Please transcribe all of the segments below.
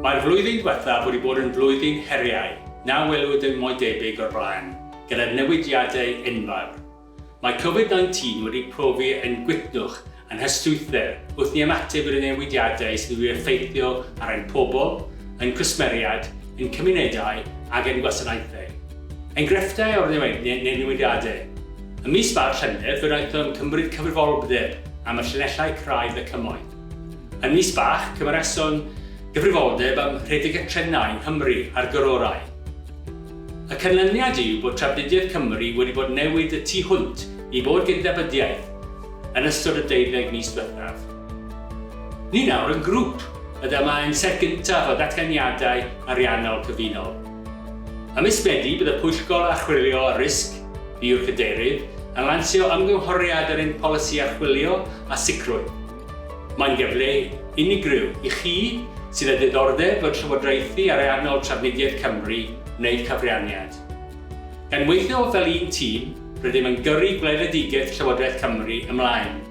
Mae'r flwyddyn diwethaf wedi bod yn flwyddyn heriau na welwyd yn mo'i debyg o'r blaen, gyda newidiadau enfawr. Mae Covid 19 wedi profi ein gwytnwch a'n hystwythder wrth ni ymateb i'r newidiadau sydd wedi effeithio ar ein pobl, ein cwsmeriaid, ein cymunedau ac ein gwasanaethau. Enghreifftiau o'r newidiadau. Ym mis Fawrth Llynedd fe wnaethom gymryd cyfrifoldeb am y llinellau craidd y Cymoedd. Yn Mis Bach cymereson gyfrifoldeb am rhedeg y trenau yng Nghymru a'r Gororau. Y canlyniad yw bod trafnidiaeth Cymru wedi bod newid y tu hwnt i bod gydnabyddiaeth yn ystod y deuddeg mis diwethaf. Ni nawr yn grŵp y dama yn set gyntaf o ddatganiadau ariannol cyfunol. Ym mis Medi bydd y Pwyllgor Archwilio a Risg, fi yw'r Cadeirydd, yn lansio ymgynghoriad ar ein polisi archwilio a sicrwydd. Mae'n gyfle unigryw i chi sydd â diddordeb fod llywodraethu ariannol Trafnidiaeth Cymru wneud cyfraniad. Gan weithio fel un tîm, rydym yn gyrru gweledigaeth Llywodraeth Cymru ymlaen.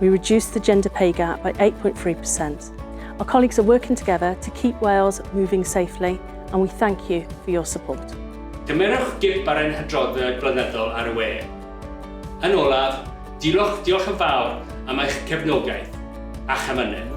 We reduced the gender pay gap by 8.3%. Our colleagues are working together to keep Wales moving safely and we thank you for your support. Cymerwch gip ar ein hadroddiad blynyddol ar y we. Yn olaf, diolch, diolch yn fawr am eich cefnogaeth a'ch amynedd.